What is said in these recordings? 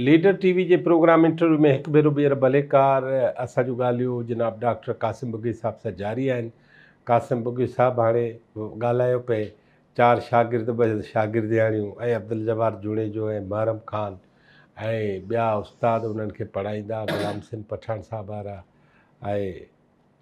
Leader TV جي programme interview ۾ هڪ ڀيرو ٻيهر ڀليڪار اسان جون ڳالهيون جناب ڊاڪٽر قاسم بگهي صاحب سان جاري آهن قاسم بگهي صاحب هاڻي ڳالهايو پئي چار شاگرد ٻه شاگردياڻيون ۽ عبدالجبار جوڻيجو ۽ محرم خان ۽ ٻيا استاد انهن کي پڙهائيندا غلام سنڌ پٺاڻ صاحب وارا ۽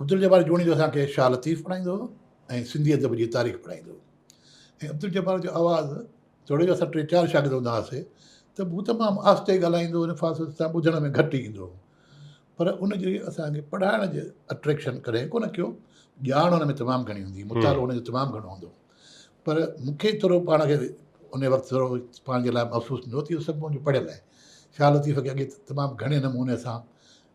عبدالجبار جوڻيجو اسان کي شاهه لطيف پڙهائيندو هو ۽ سنڌي ادب جي تاريخ پڙهائيندو هو ۽ عبدالجبار جو آواز توڙي جو اسان ٽي چار شاگرد هوندا هئاسي ته به هو تمام آهستي ڳالهائيندو هو فاصل سان ٻڌڻ ۾ گهٽ ئي ايندو هو پر ان جي اسان کي پڙهائڻ جي اٽريڪشن ڪڏهن ڪونه ڪيو ڄاڻ هن ۾ تمام گهڻي هوندي مطالعو هن جو تمام گهڻو هوندو پر مون کي ٿورو پاڻ کي ان وقت ٿورو پاڻ جي لاء محسوس نه هو ته اهو سڀ منهنجو پڙهيل آهي شاهه لطيف کي اڳي تمام گهڻي نموني سان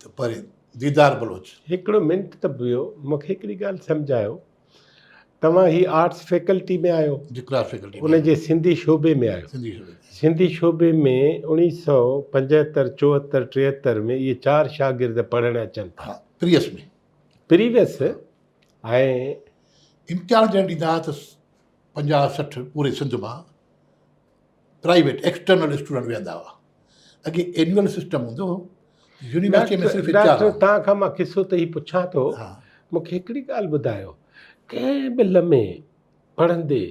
ته پرين ديدار بلوچ. هڪڙو منٽ ته بيهو مون کي هڪڙي ڳالهه سمجهايو توهان هي آرٽس فيڪلٽي ۾ آهيو جي ڪلاس فيڪلٽي ان جي سنڌي شعبي ۾ آهيو سنڌي شعبي سنڌي شعبي ۾ اوڻيهه سؤ پنجهتر چوهتر ٽيهتر ۾ اهي چار شاگرد پڙهڻ اچن ٿا پريس ۾ پريويس ۽ امتحان جڏهن ڏيندا ته پنجاهه سٺ پوري سنڌ مان پرائيويٽ ايڪسٽرنل اسٽوڊنٽ ويهندا هئا اڳي اينيول سسٽم هوندو هو يونيورسٽي ۾ صرف ڊاڪٽر تان کان مان قصو ته هي پڇان ٿو مونکي هڪڙي ڳالهه ٻڌايو ڪنهن به لمحي پڙهندي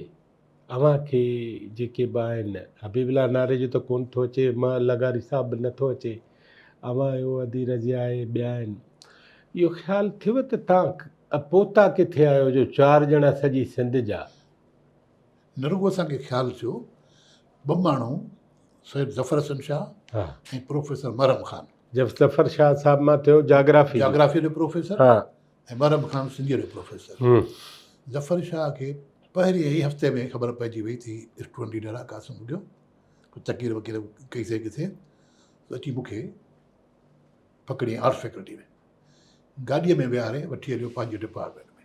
اوهان کي جيڪي به آهن حبيب الله ناري جو ته ڪون ٿو اچي مان لغاري صاحب به نٿو اچي اوهان جو ادي رضي آهي ٻيا آهن اهو خيال ٿيو ته تان پوتا ڪٿي آهيو جو چار ڄڻا سڄي سنڌ جا نه رڳو اسان کي خيال ٿيو، ٻه ماڻهو سيد ظفر حسن شاهه ۽ پروفيسر محرم خان. ظفر شاهه صاحب مان ٿيو جاگرافي جو. جاگرافيء جو پروفيسر ۽ محرم خان سنڌيء جو پروفيسر. ظفر شاهه کي پهرين ئي هفتي ۾ خبر پئجي وئي ته هي اسٽوڊنٽ ليڊر آهي قاسم ٻگهيو. تقرير وقير ڪئي سئي ڪٿي ته اچي مون کي پڪڙيائين آرٽس فيڪلٽيء ۾. گاڏيء ۾ ويهاري وٺي هليو پنهنجي ڊپارٽمينٽ ۾.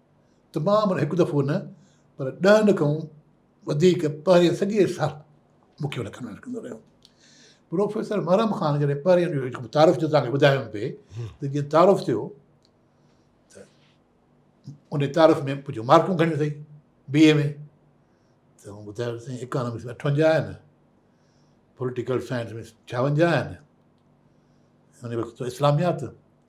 تمام معنيٰ هڪ دفعو نه پر ڏهن دفعن وڌيڪ پهرين سڄي سال مون کي لکندو لکندو رهيو. پروفيسر محرم خان جڏهن پهرين جو تعارف جو تان کي ٻڌايم پئي ته جيئن تعارف ٿيو ته ان تعارف ۾ ڪجهه مارڪون کڻي اٿئي بي اي ۾ ته هو ٻڌايو سائين اڪانومڪس ۾ اٺونجا آهن پوليٽيڪل سائنس ۾ ڇاونجا آهن ان وقت اسلاميات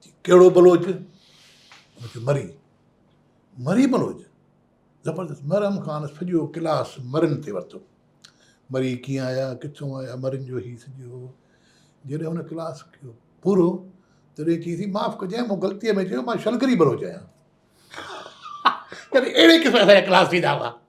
چي ڪهڙو بلوچ؟ مون چيو مري. مري بلوچ؟ زبردست مرن کان سڄو ڪلاس مرن تي ورتو. مري ڪيئن آيا، ڪٿون آيا، مرن جو هي سڄو جڏهن هن ڪلاس ڪيو پورو تڏهن چيائين سائين معاف ڪجانء مون غلطيء ۾ چيو مان شلگري بلوچ آهيان. يعني اهڙي قسم جا ڪلاس ٿيندا هئا.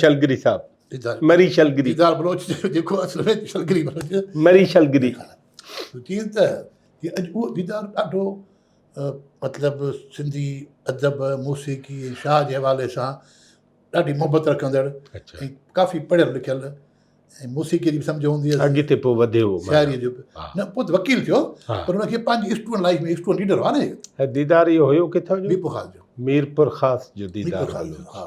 شلگري صاحب مري شلگري ديدار بلوچ جو جيڪو اصل ۾ شلگري بلوچ مري شلگري چين ته هي اڄ اهو ديدار ڏاڍو مطلب سنڌي ادب موسيقي ۽ شاهه جي حوالي سان ڏاڍي محبت رکندڙ ۽ ڪافي پڙهيل لکيل ۽ موسيقي جي به سمجھ هوندي هئي اڳتي پوء وڌيو شاعري جو نه پوء وڪيل ٿيو پر ان کي پنهنجي اسٽوڊنٽ لائف ۾ اسٽوڊنٽ ليڊر هو نه ديدار اهو هيو ڪٿان جو ميرپور خاص جو ميرپور خاص جو ديدار ها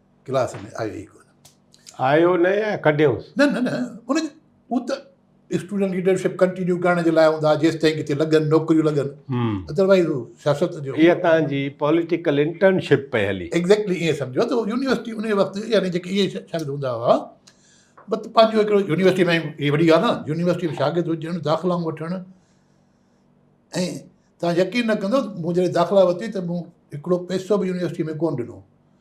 ڪلاس ۾ آيو ئي ڪونه آيو نه يا ڪڍيوس نه نه نه ان هو ته اسٽوڊنٽ ليڊرشپ ڪنٽينيو ڪرڻ جي لاء هوندا جيس تائين ڪٿي لڳن نوڪريون لڳن ادروائز سياست جو هي تان جي پوليٽيڪل انٽرنشپ پئي هلي ايگزيڪٽلي اي سمجھو ته يونيورسٽي ان وقت يعني جيڪي اي شايد هوندا هوا بس پنهنجو هڪڙو يونيورسٽي ۾ هي وڏي ڳالهه نه يونيورسٽي ۾ شاگرد هجڻ داخلا وٺڻ ۽ تان يقين نه ڪندو مون جڏهن داخلا ورتي ته مون هڪڙو پيسو به يونيورسٽي ۾ ڪون ڏنو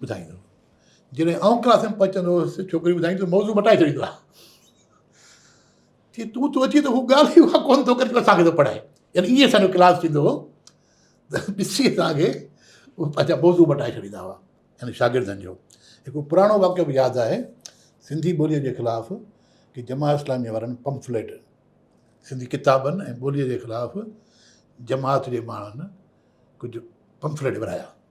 ٻڌائيندو هو. جڏهن آئون ڪلاس ۾ پهچندو هوس، ڇوڪري ٻڌائيندي ته موضوع مٽائي ڇڏيندو هو. چي تون ٿو اچين ته هو ڳالهه ئي اها ڪونه ٿو ڪري جو اسان کي ٿو پڙهائي. يعني ائين اسان جو ڪلاس ٿيندو هو ته ڏسي اسان کي اهو پنهنجا موضوع مٽائي ڇڏيندا هئا. يعني شاگردن جو هڪڙو پراڻو واقعو به ياد آهي، سنڌي ٻوليء جي خلاف ڪي جماعت اسلاميء وارن پمفليٽ، سنڌي ڪتابن ۽ ٻوليء جي خلاف جماعت جي ماڻهن ڪجهه پمفليٽ ورهايا.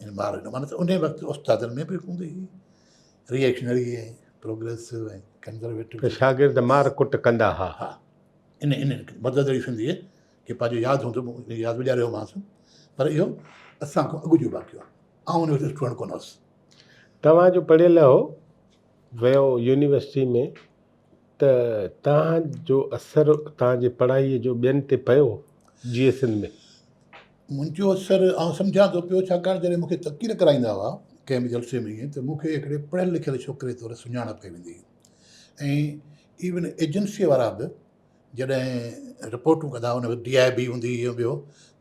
يعني مارئي جو معنيٰ ته انهيء وقت استادن ۾ به هوندي هئي ري ايڪشنري ۽ پروگريسو ۽ ڪنزرويٽو ته شاگرد مار ڪٽ ڪندا ها ها ان ان مدد جي سنڌيء کي پنهنجو ياد هوندو مون ياد ڏياري هومانس پر اهو اسان کان اڳ جو واقعو آهي آئون ان وقت اسٽوڊنٽ ڪونه هوس توهان جو پڙهيل هو ويو يونيورسٽي ۾ ته توهان جو اثر توهان جي پڙهائيء جو ٻين تي پيو جيئي سنڌ ۾ منهنجو سر آئون سمجهان ٿو پيو، ڇاڪاڻ جڏهن مون کي تقرير ڪرائيندا هئا ڪنهن به جلسي ۾ ته مون کي هڪڙي پڙهيل لکيل ڇوڪري طور سڃاڻپ ڪئي ويندي هئي ۽ ايون ايجنسيء وارا به جڏهن رپورٽون ڪندا هئا ان وقت ڊي آء بي هوندي هئي يا ٻيو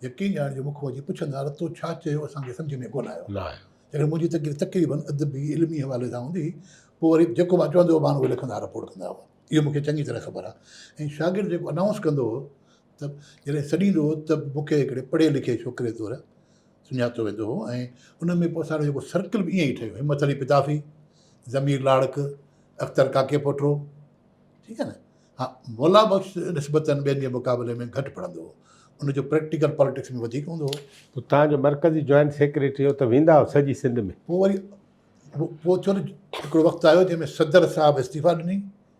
يقين ڄاڻ جو مون کان اچي پڇندا هئا تو ڇا چيو اسان کي سمجهه ۾ ڪونه آيو جڏهن منهنجي تقرير تقريبن ادبي علمي حوالي سان هوندي هئي پوء وري جيڪو مان چوندو هو مان اهو لکندا هئا رپورٽ ڪندا هئا اهو مون کي چڱي طرح خبر آهي ۽ شاگرد جيڪو انائونس ڪندو هو ته جڏهن سڏيندو هو ته مون کي هڪڙي پڙهيل لکيل ڇوڪري طور سڃاتو ويندو هو ۽ ان ۾ پوء اسان جو جيڪو سرڪل به ائين ئي ٺهيو همت علي پتافي ضمير لاڙڪ اختر ڪاڪي پوٽرو ٺيڪ آهي نه ها مولا بخش نسبتاً ٻين جي مقابلي ۾ گهٽ پڙهندو هو ان جو پريڪٽيڪل پاليٽڪس ۾ وڌيڪ هوندو هو تان جو مرڪزي جوائنٽ سيڪريٽري هو ته ويندا هو سڄي سنڌ ۾ پوء وري پوء ٿيو نه هڪڙو وقت آيو جنهن ۾ صدر صاحب استعيفا ڏني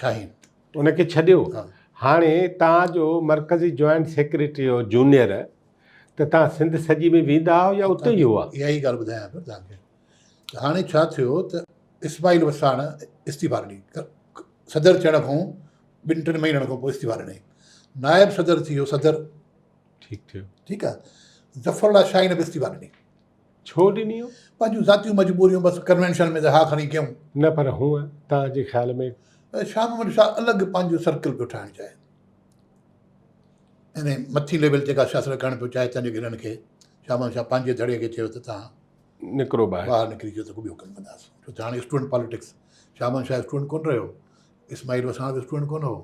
شاهين. ان کي ڇڏيو هاڻي تان جو مرڪزي جوائنٽ سيڪريٽري هو جونيئر ته تان سنڌ سڄي ۾ ويندا هو يا اتي ئي هئا اها ئي ڳالهه ٻڌايان پيو تان کي هاڻي ڇا ٿيو ته اسماعيل وساڻ استعفا ڏني صدر چڙهڻ کان ٻن ٽن مهينن کان پوء استعفا ڏني نائب صدر ٿي ويو صدر ٺيڪ ٺيڪ ٺيڪ آهي ظفر الله شاهين به استعفا ڏني ڇو ڏنيون؟ پنهنجون ذاتيون مجبوريون بس ڪنوينشن ۾ ته ها کڻي ڪيون. نه پر هونء توهان جي خيال ۾. شاهه محمد شاهه الڳ پنهنجو سرڪل پيو ٺاهڻ چاهي. يعني مٿين ليول جيڪا سياست ڪرڻ پيو چاهي تنهنجي گهرن کي شاهه محمد شاهه پنهنجي ڌڙي کي چيو ته توهان نڪرو ٻاهر. ٻاهر نڪري جو ته ڪو ٻيو ڪم ڪنداس. ڇو ته هاڻي student politics Shah Muhammad Shah student ڪون رهيو. اسماعيل وساڻ به اسٽوڊنٽ ڪون هو.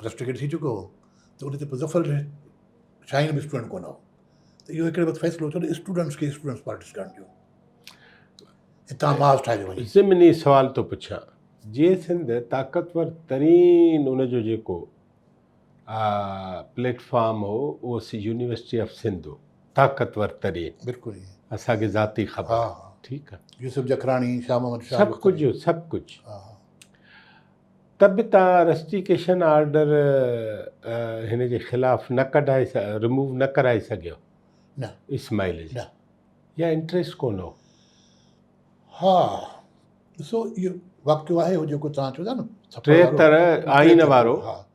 رسٽريڪٽ ٿي چڪو هو ته ان تي پوء ظفر علي شاهين به اسٽوڊنٽ ڪونه هو ته اهو هڪڙي وقت فيصلو ٿيو ته اسٽوڊنٽس کي اسٽوڊنٽس پالٽڪس ڪرڻ ٿيو هتان معاذ ٺاهي وڃي ضمني سوال ٿو پڇان جي سنڌ طاقتور ترين ان جو جيڪو پليٽ فارم هو اهو يونيورسٽي آف سنڌ هو طاقتور ترين بلڪل اسانکي ذاتي خبر ٺيڪ آهي يوسف جکراڻي شاهه محمد شاهه سڀ ڪجهه سڀ ڪجهه ته به توهان رسٽيڪيشن آرڊر هن جي خلاف نه ڪڍائي رموو نه ڪرائي سگهيو نه اسماعيل جي نه يا انٽريسٽ ڪون هو ها ڏسو اهو واقعو آهي هو جيڪو توهان چيو ٿا نه ٽيهتر آئين وارو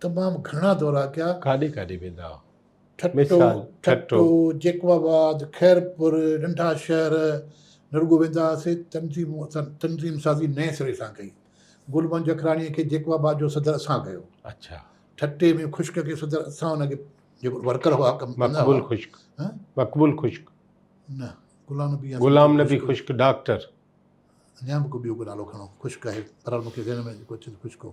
تمام گهڻا دورا ڪيا. ڪاڏي ڪاڏي ويندا هئا؟ ٺٽو، ٺٽو، جيڪب آباد، خيرپور، ننڍا شهر، نه رڳو ويندا هئاسين، تنظيم تنظيم سازي نئين سري سان ڪئي. گل منهنج اکراڻيء کي جيڪب آباد جو صدر اسان ڪيو. اڇا. ٺٽي ۾ خشڪ کي صدر اسان ان کي جيڪو ورڪر هئا ڪم ڪندا هئا. مقبول خشڪ. ها؟ مقبول خشڪ. نه، غلام نبي يا غلام نبي خشڪ ڊاڪٽر. اڃا به ڪو ٻيو ڪو نالو کڻو خشڪ آهي، بهرحال مون کي ذهن ۾ جيڪو اچي ٿو خشڪ هو.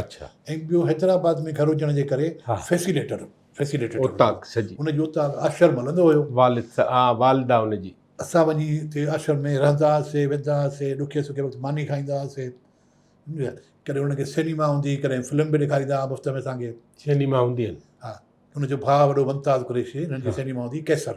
اڇا ۽ ٻيو حيدرآباد ۾ گهر هجڻ جي ڪري فيسيليٽر فيسيليٽيٽر اوطاق سڄي ان جي اوطاق آشرم هلندو هيو والد سا ها والده ان جي اسان وڃي اتي آشرم ۾ رهندا هئاسي ويندا هئاسي ڏکي سکي وقت ماني کائيندا هئاسي سمجهيا ڪڏهن ان کي سينيما هوندي هئي ڪڏهن فلم به ڏيکاريندا هئا مفت ۾ اسان کي سينيما هوندي هئن ها ان جو ڀاء وڏو ممتاز قريشي هن جي سينيما هوندي هئي قيصر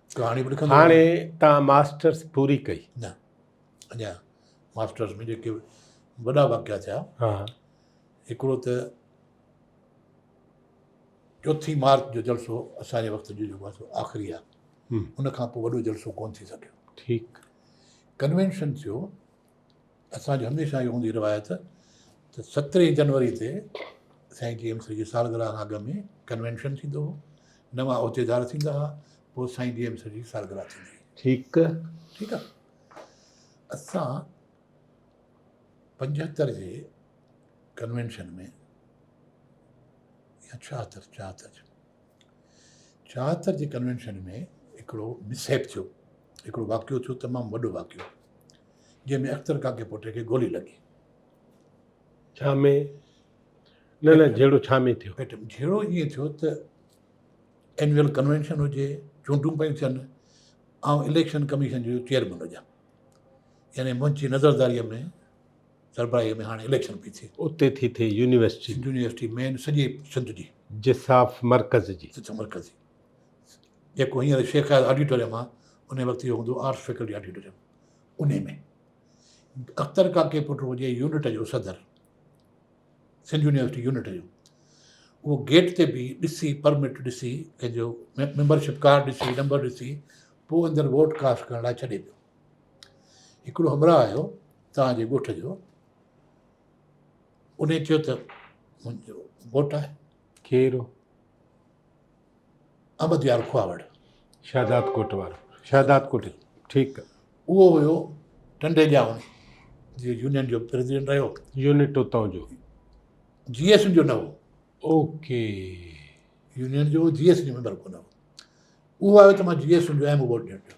ڪهاڻي به لکندو هاڻي تان ماسٽرس پوري ڪئي نه اڃا ماسٽرس ۾ جيڪي وڏا واقعا ٿيا ها هڪڙو ته چوٿين مارچ جو جلسو اسان جي وقت جو جيڪو سو آخري آهي ان کان پوء وڏو جلسو ڪون ٿي سگهيو ٺيڪ ڪنوينشن ٿيو اسان جي هميشه اهي هوندي روايت ته سترهين جنوري تي سائين ٽي ايم سي جي سالگرهه کان اڳ ۾ ڪنوينشن ٿيندو هو نوان عهديدار ٿيندا هئا پوء سائين ٽي ايم سي جي سالگرهه ٿيندي هئي ٺيڪ ٺيڪ آ اسان پنجهتر جي ڪنوينشن ۾ يا ڇاهتر ڇاهتر ڇاهتر جي ڪنوينشن ۾ هڪڙو مس هيپ ٿيو، هڪڙو واقعو ٿيو تمام وڏو واقعو جنهن ۾ اختر ڪاڪي پوٽي کي گولي لڳي. ڇا ۾ نه نه جهيڙو ڇا ۾ ٿيو؟ پيٽ جهيڙو ائين ٿيو ته اينويل ڪنوينشن هجي، چونڊون پيون ٿين، آئون اليڪشن ڪميشن جو چيئرمين هجان يعني منهنجي نظرداريء ۾ سربراهي ۾ هاڻي اليڪشن پئي ٿئي. اتي ٿي ٿئي يونيورسٽي. سنڌ يونيورسٽي مين سڄي سنڌ جي. جساف مرڪز جي. جساف مرڪز جي. جيڪو هينئر شيخ اياز آڊيٽوريم آ انهي وقت اهو هوندو آرٽس فيڪلٽي آڊيٽوريم انهي ۾ اختر ڪاڪي پٽ هجي يونٽ جو صدر سنڌ يونيورسٽي يونٽ جو اهو گيٽ تي بيهي ڏسي پرمٽ ڏسي ڪنهن جو ميمبرشپ ڪارڊ ڏسي نمبر ڏسي پوء اندر ووٽ ڪاسٽ ڪرڻ لاء ڇڏي پيو هڪڙو همراهه آيو توهان جي ڳوٺ جو انهي چيو ته منهنجو گهوٽ آهي کير احمد يار کواوڙ شهداد ڪوٽ وارو شهداد ڪوٽ ٺيڪ اهو هيو ٽنڊي ڄاون جي يونين جو پريزيڊنٽ رهيو يونٽ اتان جو جي ايس جو نه هو اوڪي يونين جو جي ايس جو ميمبر ڪو نه هو اهو آيو ته مان جي ايس جو اهم ووٽ ڏيڻ پيو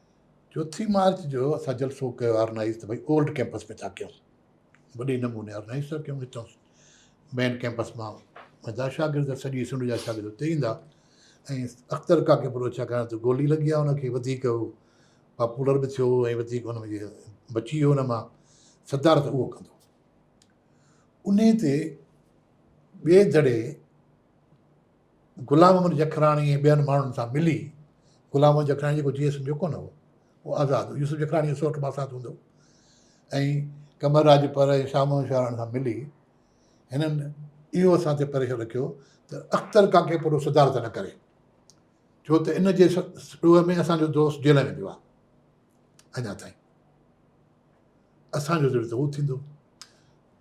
چوٿين مارچ جو اسان جلسو ڪيو آرنائيز ته ڀئي اولڊ ڪيمپس ۾ ٿا ڪيون وڏي نموني آرنائيز ٿا ڪيون هتان مين ڪيمپس مان ويندا شاگرد سڄي سنڌ جا شاگرد اتي ايندا ۽ اختر ڪاڪي پورو ڇا ڪرڻ ته گولي لڳي آهي انکي وڌيڪ هو پاپولر به ٿيو ۽ وڌيڪ ان ۾ بچي ويو ان مان صدارت اهو ڪندو ان تي ٻئي دڙي غلام محمد جکراڻي ۽ ٻين ماڻهن سان ملي غلام محمد جکراڻي جيڪو جيئي سمجهيو ڪونه هو اهو آزاد هو يوسف جکراڻي جو سوٽ ماسات هوندو هو ۽ قمر راڄپر ۽ شاهه محمد شاهراڻ سان ملي هنن اهو اسان تي پريشر رکيو ته اختر ڪاڪي پورو صدارت نه ڪري ڇو ته ان جي ڏوهه ۾ اسانجو دوست جيل ۾ پيو آهي اڃا تائين اسانجو ذر ته هو ٿيندو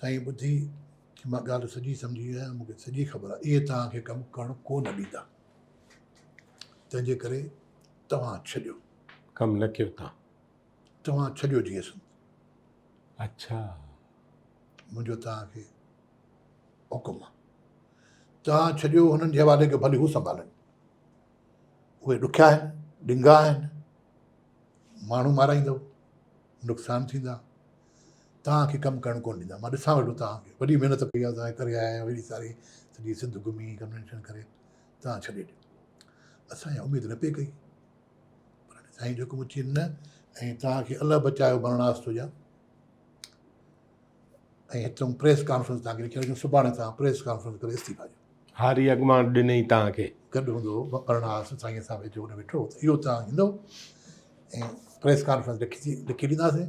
سائين ٻڌي مان ڳالهه سڄي سمجهي ويو آهيان مون کي سڄي خبر آهي اهي توهان کي ڪم ڪرڻ ڪو نه ڏيندا تنهن جي ڪري توهان ڇڏيو ڪم نه ڪيو تان توهان ڇڏيو جي اسن اچھا منهنجو توهان کي حڪم آهي توهان ڇڏيو هنن جي حوالي ڪيو ڀلي هو سنڀالن اهي ڏکيا آهن ڏنگا آهن ماڻهو مارائيندو نقصان ٿيندا توهان کي ڪم ڪرڻ ڪونه ڏيندا مان ڏسان ويٺو توهان کي وڏي محنت ڪئي آهي توهان ڪري آيا آهيو ايڏي ساري سڄي سنڌ گهمي ڪنوينشن ڪري توهان ڇڏي ڏيو اسان اها اميد نه پئي ڪئي پر سائين جو حڪم اچي نه ۽ توهان کي الله بچايو برناس ٿو ڏيان ۽ هتون پريس ڪانفرنس تان لکي جو سڀاڻي تان پريس ڪانفرنس ڪري استعفا جو هاري اڳمان ڏني تان کي گڏ هوندو پرناس سائين سان ويجو نه ويٺو اهو تان هندو ۽ پريس ڪانفرنس لکي لکي ڏينداسين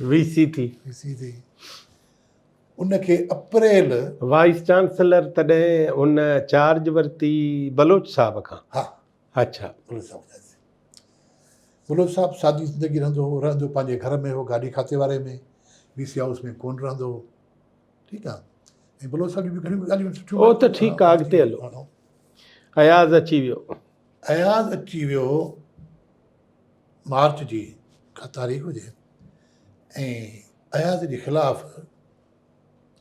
ويسي ٿي. ويسي ٿي. ان کي اپريل. وائيس چانسلر تڏهن هن چارج ورتي بلوچ صاحب کان. ها. اڇا. بلوچ صاحب کان. بلوچ صاحب سادي زندگي رهندو هو رهندو پنهنجي گهر ۾ هو گاڏي کاتي واري ۾ وي سي هائوس ۾ ڪون رهندو هو ٺيڪ آ ۽ بلوچ صاحب جي گهڻيون ڳالهيون سٺيون هو ته ٺيڪ آ اڳتي هلو اياز اچي ويو اياز اچي ويو هو مارچ جي ڪا تاريخ هجي ۽ اياز جي خلاف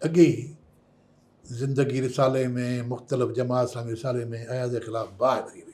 اڳي ئي زندگي رسالي ۾ مختلف جماعت سان رسالي ۾ اياز جي خلاف باهه ٻري هئي.